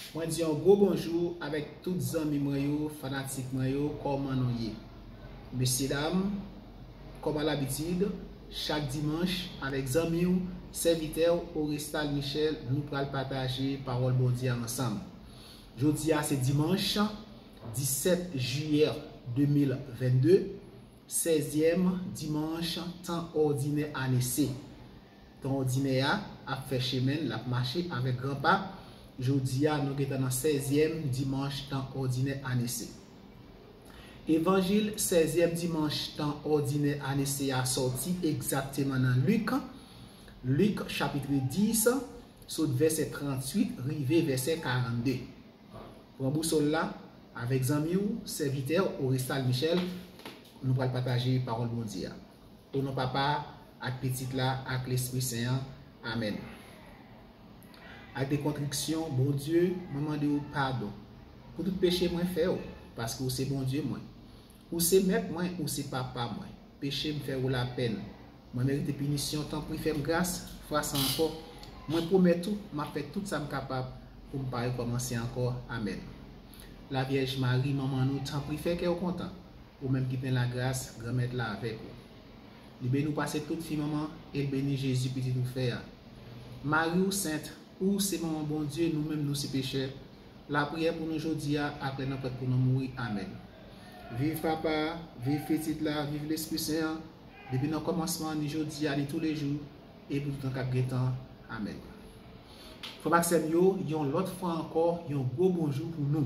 Mwen di yon gwo bonjou avèk tout zanmi mwen yo, fanatik mwen yo, kòman nou ye? Mesye dam, kòm a labitid, chak dimanch, avèk zanmi w, sèvitè w, Orestal Michel, nou pral pataje pawòl Bondye a ansanm. Jodi a se dimanch 17 jiyè 2022, sèzyèm dimanch tan òdinè ane C. Tan odinè a ap fè chemen l, l ap mache avèk gran pa. Jodi a, nou gentan nan sèzyèm dimanch tan òdinè ane se. Evanjil sèzyèm dimanch tan òdinè ane se a sòti egzakteman nan Lik, Luc chapitre 10, sot vèsè 38 rive vèsè 42. Pran bousòl la, avèk zanmi w, sèvitè w, Orestal Michel, nou pral pataje Pawòl Bondye a. O non Papa a, ak Pitit la, ak Lespri Sen an. Amèn. Ak de kontriksyon, Bondye, mwen mande ou padon pou tout peche mwen fè ou, paske ou se Bondye mwen. Ou se Mèt mwen, ou se Papa mwen. Peche m fè ou lapenn. Mwen merite pinisyon, tanpri fè m gras, fwa sa ankò. Mwen pwomèt ou, m ap fè tout sa m kapab pou m pa rekòmanse ankò. Amèn. Lavyèj Mari, Manman nou, tanpri fè kè ou kontan. Ou menm ki plen lagras, Granmèt la avèk ou. Li beni w pase tout fi manman, e l beni Jezi, pitit ou fè a. Mari, ou sent, ou se manman Bondye, nou menm nou se pechè. Lapriyè pou nou jodi a, aprè nan prèt pou nou mouri. Amèn. Viv Papa a, viv Pitit la, viv Lespri Sen an, depi nan kòmansman an, ni jodi a, ni toulejou, e pou toutan k ap gen tan. Amèn. Frè m ak sè m yo, yon lòt fwa ankò, yon gwo bonjou pou nou.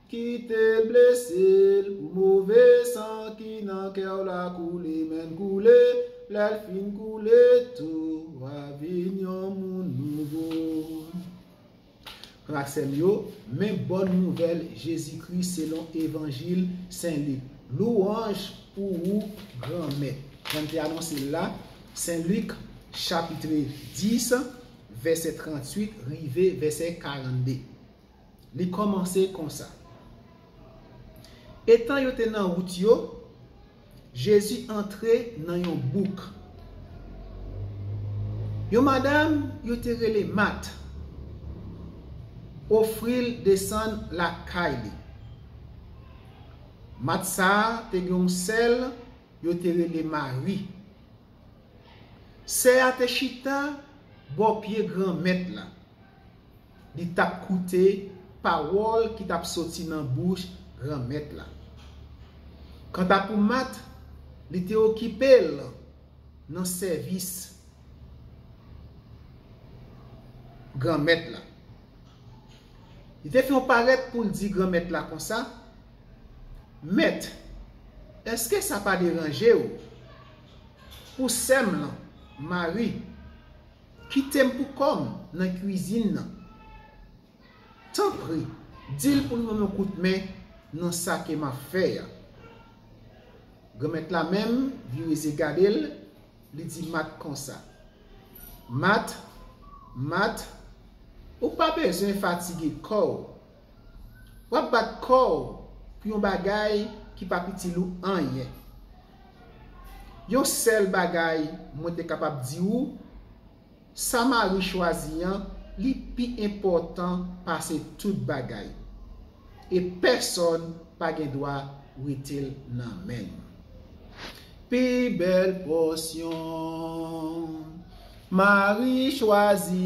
Kite l blese l pou move san ki nan kè w la koule men l koule lè l fin koule tou wa vin yon moun nouvo Frè sè m yo men bòn nouvèl Jezi Kris selon evanjil Sen Lik Lwanj pou ou Granmèt jan m te anonse l la Sen Lik chapitre 10 vèsè 38 rive vèsè 42. Li kòmanse konsa, Etan yo te nan wout yo, Jezi antre nan yon bouk. Yon madam yo te rele Mat ofri l desann lakay li. Mat sa a te gen yon sè l yo te rele Mari. Sè a te chita bò pye Granmèt la. li t ap koute pawòl ki t ap soti nan bouch Granmèt la. Kanta pou Mat, li te okipe l nan sèvis Granmèt la. Li te fè yon parèt pou l di Granmèt la konsa, Mèt, èske sa pa deranje w pou sè m lan, Mari, Kitem pou kòm nan cuisine nan. Tanpri dil poul banm yon kout men nan sa ke map fè a. Granmèt la menm vire zye gadel li di Mat konsa. Mat, Mat, ou pa bezwen fatige kòw. Wap bat kòw pou yon bagay ki pap itil ou anyen. Yon sèl bagay mwen te kapab di ou, sa Marie chwazi an li pi enpòtan pase tout bagay. E pèsòn pa gen dwa wetel nan menl. Pi bèl pòsyon Marie chwazi.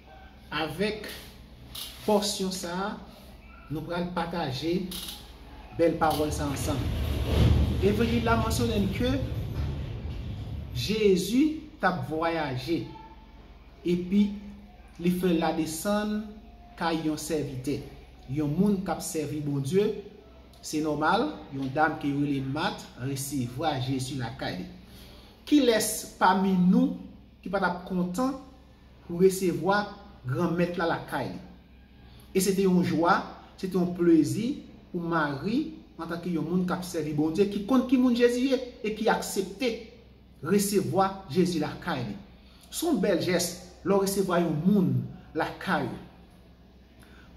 Avèk pòsyon sa a, nou pral pataje bèl pawòl sa a ansanm. Evanjil la mansyone n ke Jezi t ap vwayaje epi li fè ladesann kay yon sèvitè, yon moun k ap sèvi Bondye. Se nòmal, yon dam ki rele Mat resevwa Jezi lakay li. Kilès pami nou ki pa t ap kontan pou resevwa Granmèt la lakay li. E se te yon jwa, se te yon plezi pou Mari, antanke yon moun k ap sèvi Bondye, ki konn ki moun Jezi ye e ki aksepte resevwa Jezi lakay li. Se yon bèl jès lè w resevwa yon moun lakay ou.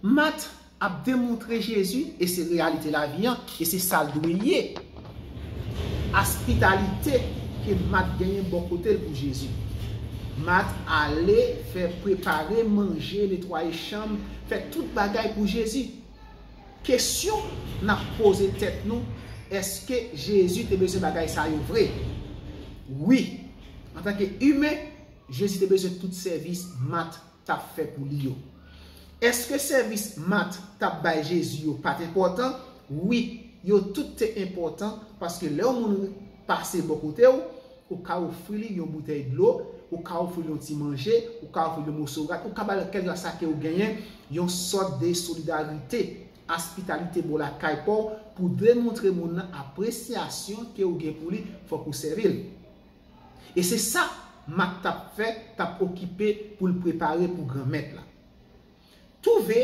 Mat ap demontre Jezi e se reyalite lavi an e se sa l dwe ye. Aspitalite ke Mat genyen bò kote l pou Jezi. Mat ale fè prepare manje, netwaye chanm, fè tout bagay pou Jezi. Kesyon n ap poze tèt nou, èske Jezi te bezwen bagay sa yo vre? Wi! Antanke imen, Jezi te bezwen tout sèvis Mat tap fè pou li yo. Èske sèvis Mat tap bay Jezi yo pat enpòtan? Wi, yo tout te enpòtan paske lè yon moun pase bò kote w, ou ka ofri li yon boutèy dlo, ou ka ofri l yon ti manje, ou ka ofri l yon moso rad, ou ka ba l kèlkeswa sa ke ou genyen, yon sòt de solidarite, aspitalite bò lakay pa w pou demontre moun nan apresyasyon ke ou gen pou li, fòk ou sèvi l. E se sa Mak t ap fè, t ap okipe pou l prepare pou Granmèt la. Twouve,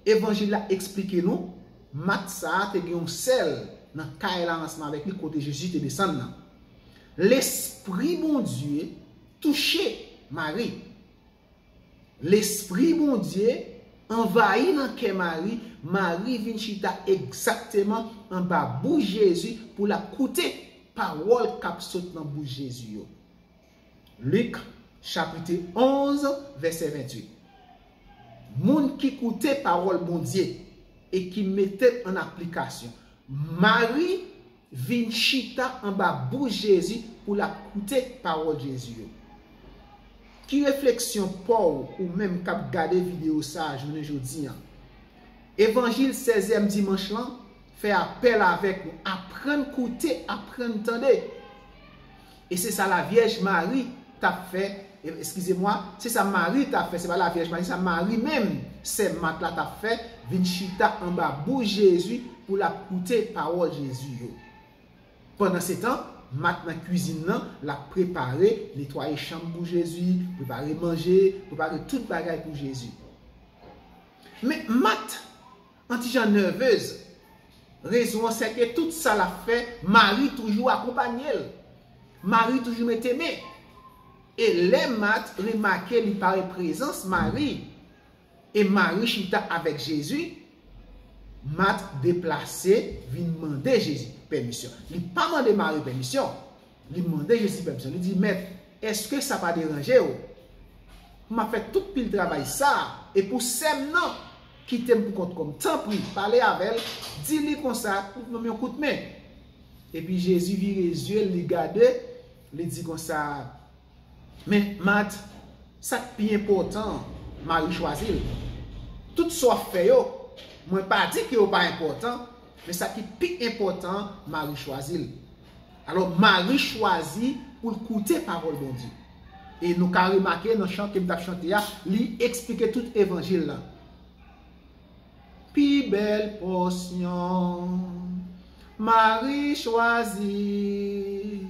Evanjil la esplike nou, Mak sa a te gen yon sèl nan kay la ansanm avèk li kote Jezi te desann nan. Lespri Bondye touche Mari. Lespri Bondye anvayi nan kè Mari, Mari vin chita egzakteman anba bouch Jezi pou l ap koute pawòl k ap sot nan bouch Jezi yo. Lik, chapit 11, vèsè 28 Moun ki koute pawòl Bondye e ki mete l an aplikasyon Mari Vin chita anba bouch Jezi pou l ap koute pawòl Jezi yo. Ki refleksyon pa w ou menm k ap gade videyo sa a jounen jodi an? Evanjil Sèzyèm Dimanch lan fè apèl avèk nou, Aprann koute, aprann tande. E se sa lavyèj Mari tap fè, eskize mwa, se sa Mari tap fè, se pa lavyèj Mari, se sa Mari menm, sè Mat la tap fè, vin chita anba bouch Jezi pou lap koute pawòl Jezi yo. Pandansetan, Mat nan kwizin nan, lap prepare, netwaye chanm pou Jezi, prepare manje, prepare tout bagay pou Jezi. Men Mat! An ti jan nerveuz. Rezon an se ke tout sa lap fè Marie toujou akonpanye l. Marie toujou mete men. E lè Mat remake li pa wè prezans Marie e Marie chita avèk Jezi, Mat deplase vin mande Jezi pèmisyon. Li pa mande Marie pèmisyon. Li mande Jezi pèmsyon, li di, Mèt, èske sa pa deranje ou? M ap fè tout pil travay sa a, e pou sè m nan kite m pou kont kò m. Tanpri, pale avè l, di li konsa pou l ban m yon kout men. Epi Jezi vire zye l, li gade, li di konsa, Men, Mat, sa k pi enpòtan an, Mari chwazi l. Tout sa w ap fè yo, mwen pa di ke yo pa enpòtan, men sa ki pi enpòtan an, Mari chwazi l. Alò, Mari chwazi pou l koute pawòl Bondye. E nou ka remake nan chan ke m t ap chante a, li esplike tout Evanjil la. Pi bèl pòsyon Mari chwazi.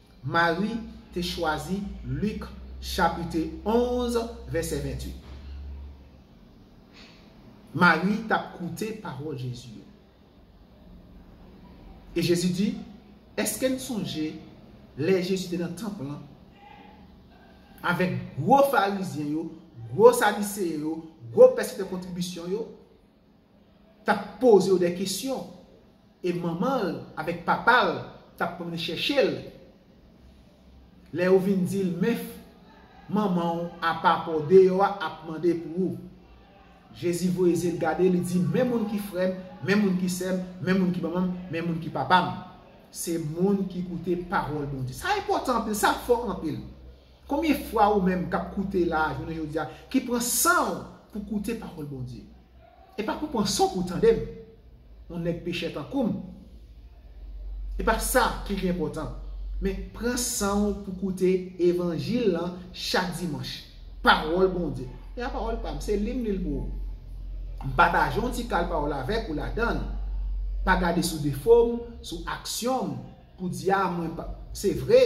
Mari te chwazi Lik chapite 11 vèsè 28. Mari t ap koute pawòl Jezi yo. E Jezi di, Èske n sonje lè Jezi te nan tanp lan avèk gwo Farizyen yo, gwo Sadiseyen yo, gwo pèseptè kontribisyon yo, tap poze yo dè kesyon e manman l avèk papa l tap pwomne chèche l lè yo vin di l menfp manman w apa paw deyò a ap mande pou ou Jezi voye zye l gade li di men moun ki frè m men moun ki sè m men moun ki manman m men moun ki papa m se moun ki koute pawòl Bondye sa enpòtan anpil sa fò anpil. Konbyen fwa ou menm kap koute la jounen jodi a ki pran sanw pou koute pawòl Bondye? E pa pou pran sanw pou tandem, yon nèg pechè tankoum, e pa sa ki pi enpòtan, men pran sanw pou koute evanjil lan chak dimanch, pawòl Bondye. Se pa pawòl pam, se lim lil pou ou. M pataje yon ti kal pawòl avèk ou ladanl, pa gade sou defom, sou aksyonm. Poudya mwen pa se vre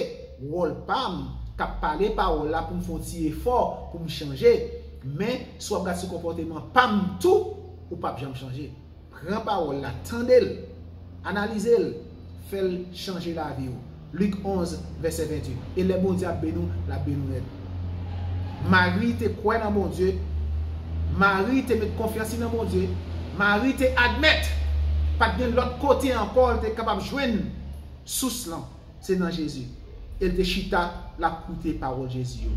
wòl pam kap pale pawòl la poum fon ti efò poum chanje men si wap gad sou konpòteman pam tou ou pap janm chanje pran pawòl la tandel analizel fèl chanje laviw Luc 11 vèsè 28 e lè Bondye ap beni w lap beni w nèt. Mari te kwè nan Bondye. Mari te met konfyans li nan Bondye. Mari te admèt pa t gen lòt kote ankò l te kapab jwenn sous lan, se nan Jezi. E l te chita l ap koute pawòl Jezi yo.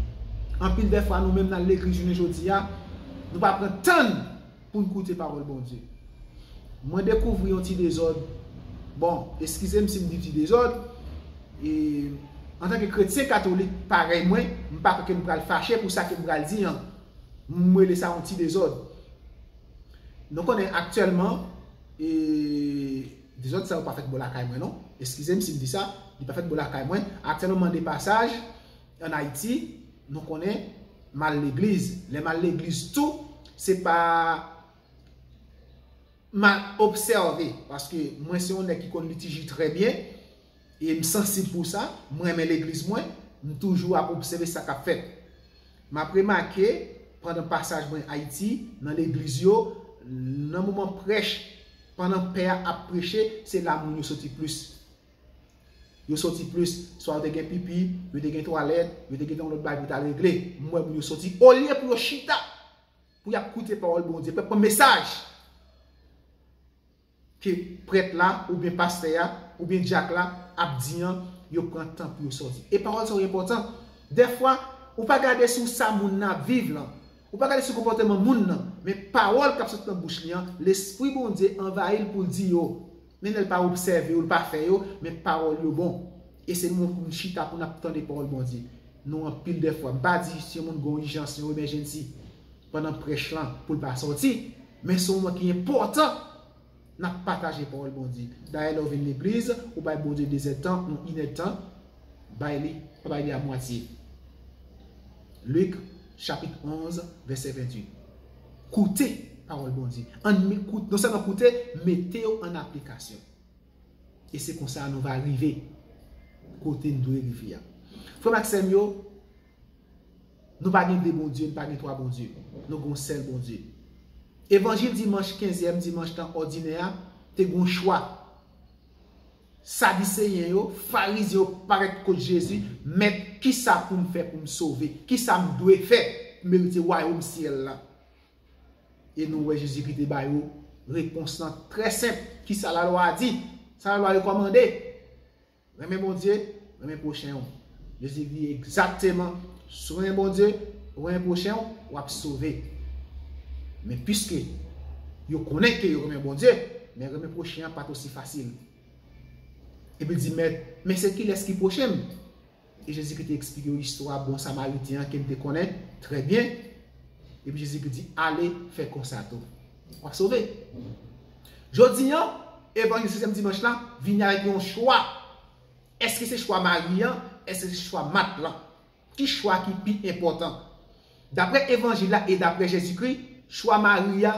Anpil dèfwa nou menm nan legliz jounen jodi a, nou pa pran tan n poun koute pawòl Bondye. Mwen dekouvri yon ti dezòd, bon, eskizem sim di ti dezòd, e antanke kretyen katolik parèy mwen, m pa kwè kem pral fache pou sa kem pral di an. M rele sa yon ti dezòd. Nou konnen aktyèlman, e dezòd sa yo pa fèt bò lakay mwen non, eskizem sim di sa, li pa fèt bò lakay mwen, aktyèlman mande pasaj, An Ayiti, nou konnen, m al legliz. Lè m al legliz tou, se pa m al obsève. Paske mwen se yon nèg ki konn litiji trè byen. E m sansib pou sa. M renmen legliz mwen. M toujou ap obsève sa k ap fèt. M ap remake, pandan pasaj mwen Ayiti, nan legliz yo, nan moman prèch, pandan pè a ap preche, se la moun yo soti plis. Yo soti plis, swa yo te gen pipi, yo te gen twalèt, yo te gen yon lòt bagay pou yo t al regle. M wè moun yo soti. Olye pou yo chita, pou y ap koute pawòl Bondye, pou y ap pran mesaj ke prèt la oubyen pastè a oubyen dyak la ap di an, yo pran tan pou yo soti. E pawòl sa yo enpòtan. Dèfwa, ou pa gade sou sa moun nan ap viv lan, ou pa gade sou konpòteman moun nan, men pawòl k ap soti nan bouch li an, Lespri Bondye anvayi l pou l di yo. Men lèl pa obsève yo, l pa fè yo, men pawòl yo bon. E se nou menm pou nou chita pou nap tande pawòl Bondye. Nou anpil dèfwa. M pa di si yon moun gen yon ijans, yon emèjennsi pandan prèch lan pou l pa sòti, men son moman ki enpòtan nap pataje pawòl Bondye. Dayè lè w vin legliz, ou bay Bondye dezè tan, yon inè tan, bay li, pa bay li a mwatye. Lik chapit 11 vèsè 28. Koute pawòl Bondye. Ann non sèlman koute, mete yo ann aplikasyon. E se konsa nou va rive kote n dwe rive a. Frè m ak sè m yo, nou pa gen de Bondye, nou pa gen twa Bondye. Nou gen yon sèl Bondye. Evanjil dimanch kenzyèm dimanch tan òdinè a te gen yon chwa. Sadiseyen yo, Farizyen yo parèt kot Jezi, Mèt, ki sa pou m fè pou m sove? Ki sa m dwe fè pou m erite wayòm syèl la? E nou wè Jezi ki te ba yo repons lan trè senp, Ki sa lalwa a di? Sa lalwa rekòmande? Renmen Bondye, renmen pwochen ou. Jezi di egzakteman, Souren Bondye, renmen pwochen w, w ap sove. Men piske yo konnen ke yo renmen Bondye, men renmen pwochen an pa t osi fasil. Epi l di, Mèt, men se kilès ki pwoche m? E Jezikri te eksplike yo istwa bon Samarityen an ke n te konnen trè byen. Epi Jezikri di, Ale, fè konsa tou. W ap sove. Jodi an, Evanjil sezyèm Dimanch la vini avèk yon chwa. Eske se chwa mari an? Eske se chwa mat lan? Ki chwa ki pi enpòtan? Dapre Evanjil la e dapre Jezikri, chwa mari a,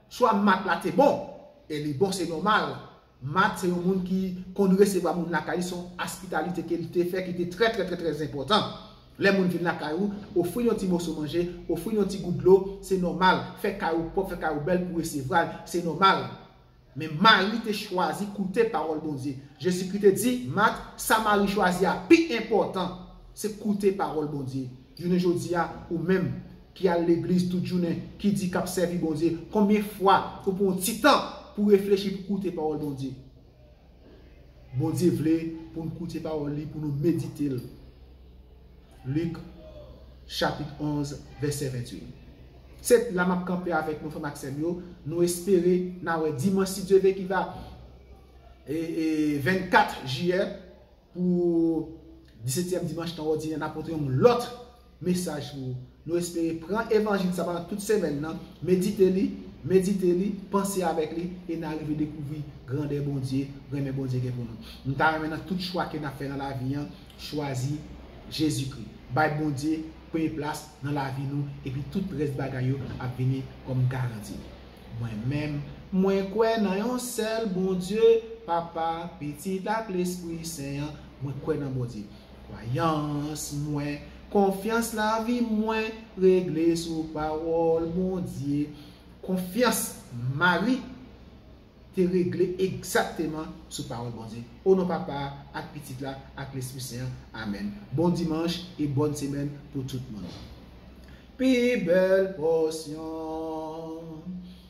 chwa mat la te bon. E li bon, se nòmal. Mat se yon moun ki konn resevwa moun lakay li, se yon aspitalite ke li te fè ki te trè trè trè trè enpòtan. Lè moun vin lakay ou, ofri l yon ti moso manje, ofri l yon ti gout dlo, se nòmal. Fè kay ou pwòp, fè kay ou bèl pou resevwa l, se nòmal. Men Mari te chwazi koute pawòl Bondye. Jezikri te di, Mat, sa Mari chwazi a pi enpòtan, se koute pawòl Bondye. Jounen jodi a, ou menm, ki al legliz tout jounen, ki di k'ap sèvi Bondye, konbyen fwa ou pran yon ti tan pou reflechi pou koute pawòl Bondye? Bondye vle pou nou koute pawòl li, pou nou medite l. Lik, chapit 11, vèsè 28. Se la m ap kanpe avèk nou, frè m ak sè m yo, nou espere n a wè dimanch si Dye ve ki va 24 jiyè pou disetyèm dimanch tan òdinè n a pote yon lòt mesaj pou ou. Nou espere pran evanjil sa pandan tout semèn nan, medite li, medite li, panse avèk li, e na rive dekouvri grandè Bondye, renmen Bondye gen pou nou. M ta renmen nan tout chwa ke nap fè nan lavi an, chwazi Jezikri. Bay Bondye premye plas nan lavi nou epi tout rès bagay yo ap vini kòm garanti. Mwen menm, mwen kwè nan yon sèl Bondye, Papa, Pitit ak Lespri Sen an, mwen kwè nan Bondye. Kwayans mwen, konfyans lavi mwen regle sou pawòl Bondye. Konfyans Mari te regle egzakteman sou pawòl Bondye. O non Papa a, ak Pitit la, ak Lespri Sen an, amèn. Bon Dimanch e Bòn Semèn pou tout moun. Pi bèl pòsyon.